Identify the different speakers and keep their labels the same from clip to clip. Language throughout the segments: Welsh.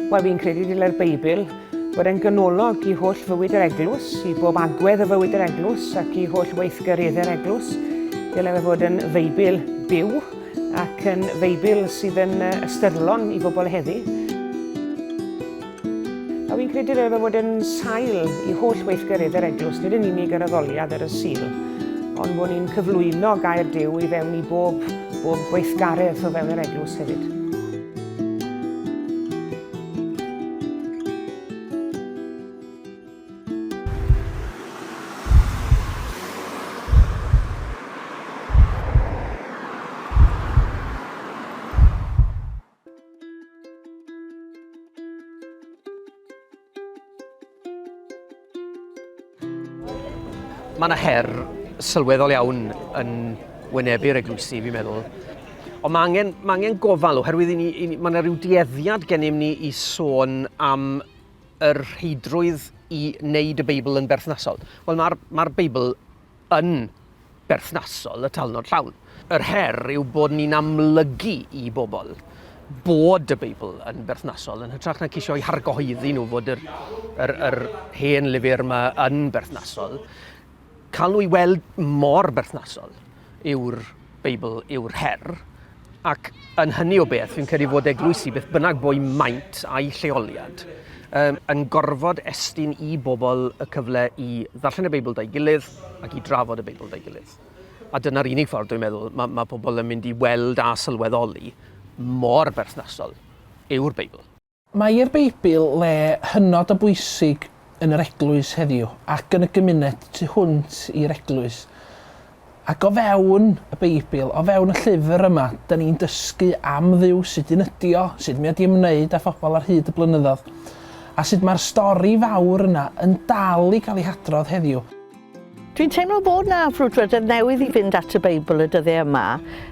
Speaker 1: Wel, fi'n credu dylai'r Beibl fod e'n ganolog i holl fywyd yr eglwys, i bob agwedd y fywyd yr eglwys ac i holl weithgareddau'r eglwys. Dylai fe fod yn Feibl byw Ac yn Feibl sydd yn ystyrlon i bobl heddi. A fi'n credu roedd o fod yn sail i holl weithgarydd yr eglwys, nid yn unig yr addoliad ar y Sul, ond bod ni'n cyflwyno gair Dyw i fewn i bob, bob gweithgaredd o fewn yr eglwys hefyd.
Speaker 2: Mae yna her sylweddol iawn yn wynebu'r eglwysi, fi'n meddwl. Ond mae angen, mae angen gofal oherwydd i ni, i ni, mae yna rhyw dueddiad gennym ni i sôn am yr rheidrwydd i wneud y Beibl yn berthnasol? Wel, mae'r ma Beibl yn berthnasol y talnod llawn. Yr her yw bod ni'n amlygu i bobl bod y Beibl yn berthnasol, yn hytrach na ceisio i hargohyddi nhw fod yr, yr, yr hen lyfr yma yn berthnasol. Cael nhw i weld mor berthnasol yw'r Beibl yw'r her, ac yn hynny o beth, fi'n credu fod eglwysi, beth bynnag bo'u maint a'u lleoliad, um, yn gorfod estyn i bobl y cyfle i ddarllen y Beibl da'i gilydd ac i drafod y Beibl da'i gilydd. A dyna'r unig ffordd, dwi'n meddwl, mae, mae pobl yn mynd i weld a sylweddoli mor berthnasol yw'r Beibl. Mae'r Beibl
Speaker 3: le hynod o bwysig yn yr eglwys heddiw ac yn y gymuned tu hwnt i'r eglwys. Ac o fewn y Beibl, o fewn y llyfr yma, dyn ni'n dysgu am Dduw, sut un ydi o, sut mi oedd i ymwneud â phobl ar hyd y blynyddoedd, a sut mae'r stori fawr yna yn dal i gael ei hadrodd heddiw. Dwi'n teimlo
Speaker 4: bod 'na frwdfrydedd newydd i fynd at y Beibl y dyddiau yma.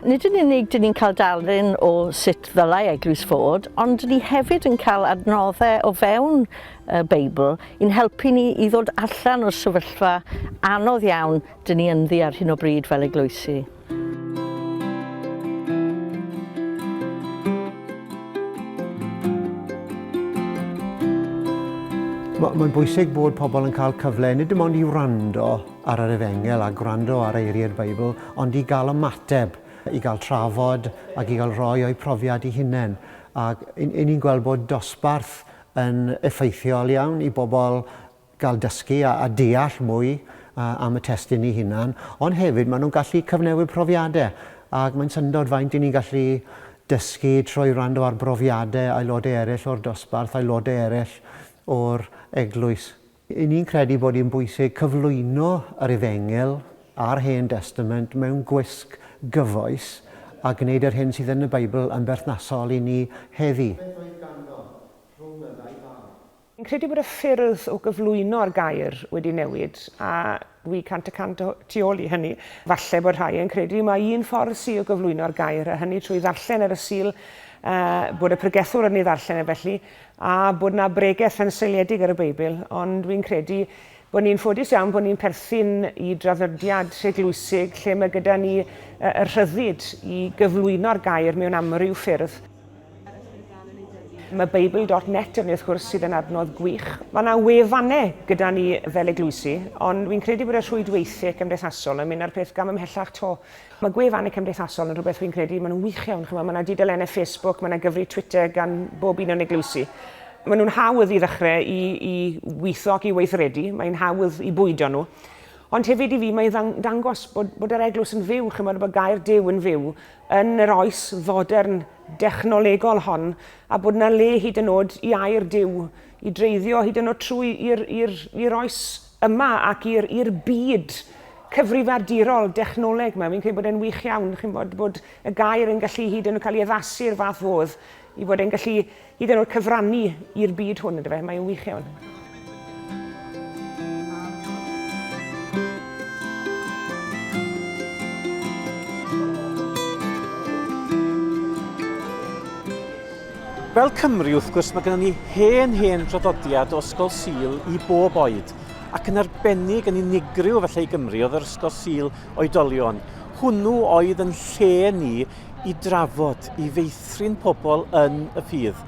Speaker 4: Nid yn unig dyn ni'n cael darlun o sut ddylai eglwys fod, ond dyn ni hefyd yn cael adnoddau o fewn y Beibl i'n helpu ni i ddod allan o'r sefyllfa anodd iawn dyn ni ynddi ar hyn o bryd fel eglwysi.
Speaker 5: Mae'n bwysig bod pobl yn cael cyfle nid dim ond i wrando ar yr efengel a gwrando ar eiriau'r Beibl, ond i gael ymateb, i gael trafod ac i gael rhoi o'i profiad i hunain. Ac ni'n gweld bod dosbarth yn effeithiol iawn i bobl gael dysgu a deall mwy am y testun ei hunan, ond hefyd maen nhw'n gallu cyfnewid profiadau, ac mae'n syndod faint y'n ni'n gallu dysgu trwy wrando ar brofiadau aelodau eraill o'r dosbarth, aelodau eraill o'r eglwys. Y'n ni'n credu bod hi'n bwysig cyflwyno yr Efengyl a'r Hen Destament mewn gwisg gyfoes a gwneud yr hyn sydd yn y Beibl yn berthnasol i ni heddi.
Speaker 1: Fi'n credu bod y ffyrdd o gyflwyno'r gair wedi newid, a dwi cant y cant o tu ôl i hynny. Falle bod rhai yn credu mai un ffordd sy o gyflwyno'r gair, a hynny trwy ddarllen ar y Sul, bod y pregethwr yn ei ddarllen e felly, a bod 'na bregeth yn seiliedig ar y Beibl, ond dwi'n credu bod ni'n ffodus iawn bod ni'n perthyn i draddodiad eglwysig lle mae gyda ni y rhyddid i gyflwyno'r gair mewn amryw ffyrdd. Mae Bible.net yn wrth gwrs sydd yn adnodd gwych. Mae yna wefannau gyda ni fel eglwysi, ond fi'n credu bod y rhwydweithiau cymdeithasol yn mynd â'r peth gam ymhellach to. Mae gwefannau cymdeithasol yn rhywbeth rwy'n credu, maen nhw'n wych iawn, chimod, mae yna dudalennau Facebook, mae yna gyfrif Twitter gan bob un o'n eglwysi. Maen nhw'n hawdd i ddechrau i, i weithio ac i weithredu, mae'n hawdd i bwydo nhw. Ond hefyd i fi mae'n ddang- dangos bod, bod yr eglwys yn fyw, chimod, bod gair Duw yn fyw yn yr oes fodern dechnolegol hon, a bod yna le hyd yn oed i air Duw i dreiddio hyd yn oed trwy i'r, i'r, i'r oes yma ac i'r i'r byd cyfrifiadurol dechnoleg 'ma. Fi'n credu bod e'n wych iawn, chi'n bod, bod y gair yn gallu hyd yn oed cael ei addasu i'r fath fodd i fod e'n gallu hyd yn oed cyfrannu i'r byd hwn, ynddo fe? Mae'n wych iawn.
Speaker 6: Fel Cymry, wrth gwrs, mae gennym ni hen, hen draddodiad o Ysgol Sul i bob oed, ac yn arbennig yn unigryw felly i Gymru oedd yr Ysgol Sul Oedolion. Hwnnw oedd yn lle ni i drafod, i feithrin pobl yn y ffydd.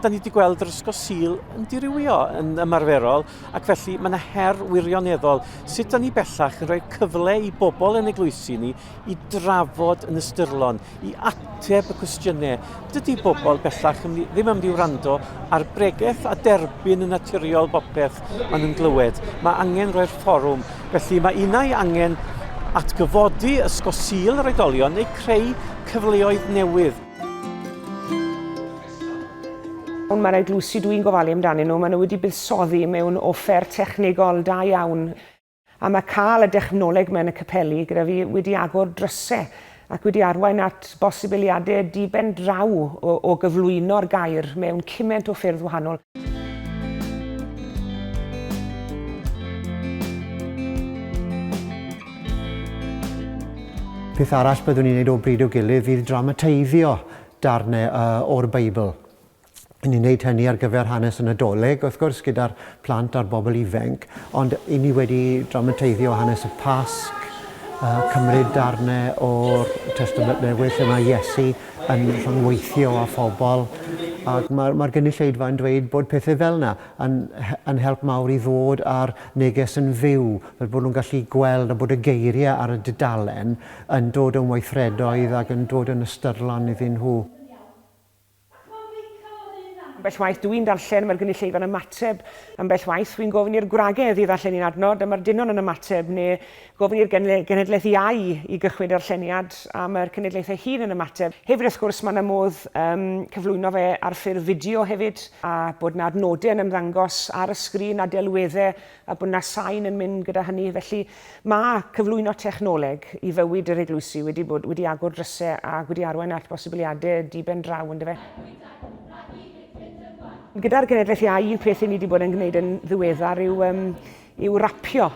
Speaker 6: Da ni wedi gweld yr Ysgol Sul yn dirywio yn ymarferol, ac felly mae yna her wirioneddol sut da ni bellach yn rhoi cyfle i bobl yn eglwysi ni i drafod yn ystyrlon, i ateb y cwestiynau. Dydy bobl bellach ddim am di wrando ar bregeth a derbyn yn naturiol bopeth maen nhw'n glywed. Mae angen rhoi'r fforwm. Felly mae unau angen atgyfodi ysgo sil yr oedolion neu creu cyfleoedd newydd.
Speaker 1: Ond mae'r eglwysi dwi'n gofalu amdanyn nhw, maen nhw wedi buddsoddi mewn offer technegol da iawn A mae cael y dechnoleg yma yn y capeli gyda fi wedi agor drysau ac wedi arwain at bosibiliadau di-ben draw o, o gyflwyno'r gair mewn cymaint o ffyrdd wahanol.
Speaker 5: Peth arall byddwn i'n neud o bryd i'w gilydd fydd dramatiaiddio darnau yy o'r Beibl. i ni wneud hynny ar gyfer hanes y Nadolig, wrth gwrs, gyda'r plant a'r bobl ifainc, ond i ni wedi dramateiddio hanes y Pasg, uh, cymryd darnau o'r Testament Newydd lle mae Iesu yn rhyngweithio â phobl, ac mae'r mae gynulleidfa yn dweud bod pethau fel yna yn, yn help mawr i ddod â'r neges yn fyw, fel bod nhw'n gallu gweld a bod y geiriau ar y dudalen yn dod yn weithredoedd ac yn dod yn ystyrlon iddyn nhw. Acw Mica
Speaker 1: o'r un ran. Ambell waith dw i'n darllen, mae'r gynulleidfa yn ymateb. Ambell waith, wi'n gofyn i'r gwragedd i ddarllen un adnod, a mae'r dynon yn ymateb, neu gofyn i'r genhedlaeth iau i gychwyn darlleniad, a mae'r cenedlaeth ei hun yn ymateb. Hefyd, wrth gwrs, mae 'na modd cyflwyno fe ar ffurf fideo hefyd, a bod 'na adnodau yn ymddangos ar y sgrin a delweddau a bod 'na sain yn mynd gyda hynny. Felly, mae cyflwyno technoleg i fywyd yr eglwysi wedi bod wedi agor drysau ac wedi arwain at bosibiliadau diben draw, yn dyfe? Gyda'r genedlaeth iau, un peth i ni wedi bod yn gwneud yn ddiweddar yw, um, yw rapio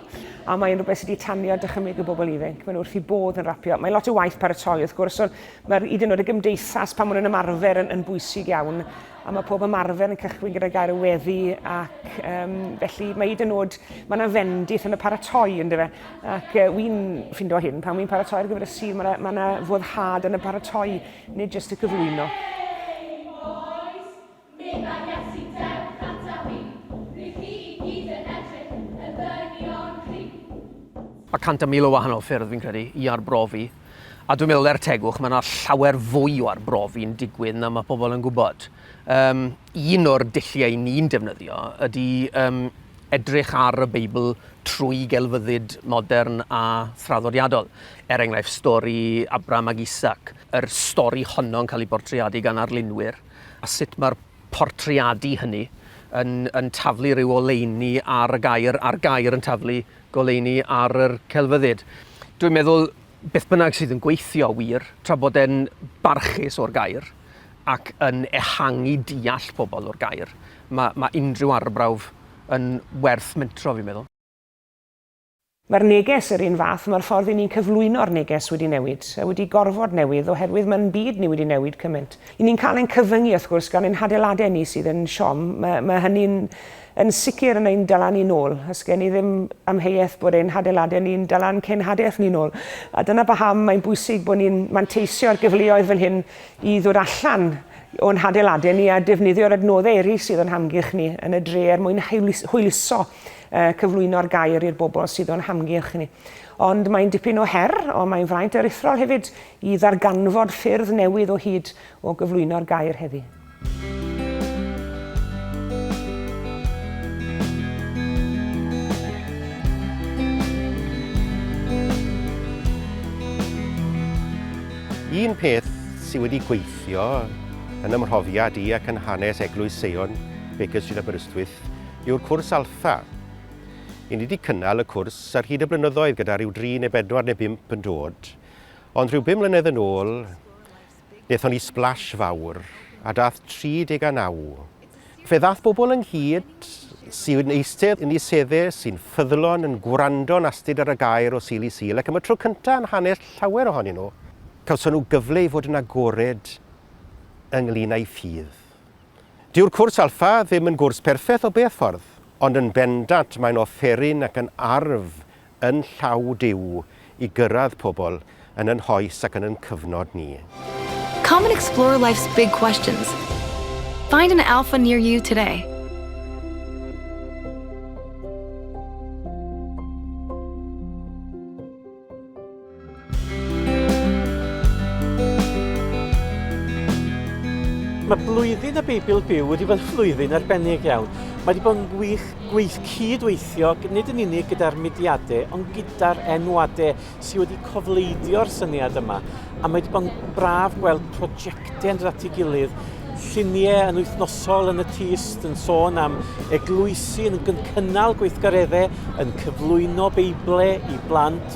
Speaker 1: a mae'n rhywbeth sydd wedi tanio dychymyg y bobl ifanc. Mae'n wrth i bodd yn rapio. Mae lot o waith paratoi wrth gwrs, ond mae'r hyd yn oed y gymdeithas pan maen nhw'n ymarfer yn, yn bwysig iawn. a mae pob ymarfer yn cychwyn gyda gair y weddi ac um, felly mae hyd yn oed, mae yna fendith yn y paratoi ynddo fe ac uh, wy'n ffindo hyn pan wy'n paratoi ar gyfer y sir mae yna foddhad yn y paratoi nid jyst y cyflwyno.
Speaker 2: Mae cant a mil o wahanol ffyrdd fi'n credu i arbrofi A dwi'n meddwl, er tegwch, mae yna llawer fwy o arbrofi'n digwydd na mae pobl yn gwybod. Um, un o'r dulliau ni'n defnyddio ydy um, edrych ar y Beibl trwy gelfyddyd modern a thraddodiadol. Er enghraifft, stori Abram ac Isaac, yr stori honno'n cael ei bortreadu gan arlunwyr, a sut mae'r portreadu hynny yn, yn taflu rhyw oleuni ar y gair, a'r gair yn taflu goleuni ar yr celfyddyd. Dwi'n meddwl beth bynnag sydd yn gweithio wir, tra bod e'n barchus o'r gair ac yn ehangu deall pobl o'r gair, mae, mae unrhyw arbrawf yn werth mentro fi'n meddwl.
Speaker 1: Mae'r neges yr un fath, mae'r ffordd i ni'n cyflwyno'r neges wedi newid, a wedi gorfod newid oherwydd mae'n byd ni wedi newid cymaint. I ni'n cael ein cyfyngu wrth gwrs gan ein hadeiladau ni sydd yn siom, mae, mae hynny'n Yn sicr yn ein dala ni'n ôl. Os gen i ddim amheuaeth bod ein hadeiladau ni'n dala ein cenhadaeth ni'n ôl. A dyna paham mae'n bwysig bod ni'n manteisio'r gyfleoedd fel hyn i ddod allan o'n hadeiladau ni a defnyddio'r adnoddau eraill sydd o'n hamgylch ni yn y dre er mwyn hwyluso a cyflwyno'r gair i'r bobl sydd o'n hamgylch ni. Ond mae'n dipyn o her, ond mae'n fraint aruthrol hefyd i ddarganfod ffyrdd newydd o hyd o gyflwyno'r gair heddi.
Speaker 7: Un peth sydd wedi gweithio yn ymhrofiad i ac yn hanes Eglwys Seion Baker Street Aberystwyth yw'r cwrs Alpha. I ni wedi cynnal y cwrs ar hyd y blynyddoedd gyda rhyw dri neu bedwar neu bump yn dod, ond rhyw bum mlynedd yn ôl Daethon ni splash fawr, a daeth 39. Fe ddaeth bobl ynghyd sy'n eistedd yn eu sedde, sy'n ffyddlon, yn gwrando'n astud ar y gair o Sul i Sul, ac am y tro cyntaf yn hanes llawer ohonyn nhw, cawson nhw gyfle i fod yn agored ynglŷn â'u ffydd. Dyw'r cwrs Alpha ddim yn gwrs perffaith o beth ffordd, ond yn bendant mae'n offeryn ac yn arf yn llaw Duw i gyrraedd pobl yn yn hoes ac yn yn cyfnod ni. Come and
Speaker 8: explore
Speaker 7: life's
Speaker 8: big
Speaker 7: questions.
Speaker 8: Find an Alpha near you today.
Speaker 6: Mae blwyddyn y Beibl Byw wedi bod yn flwyddyn arbennig iawn. Mae wedi bod yn wych gweith cyd-weithio nid yn unig gyda'r mudiadau ond gyda'r enwadau sydd wedi cofleidio'r syniad yma. A mae wedi bod yn braf gweld prosiectau yn dod at ei gilydd, lluniau yn wythnosol yn y tyst yn sôn am eglwysi yn cynnal gweithgareddau, yn cyflwyno Beiblau i blant,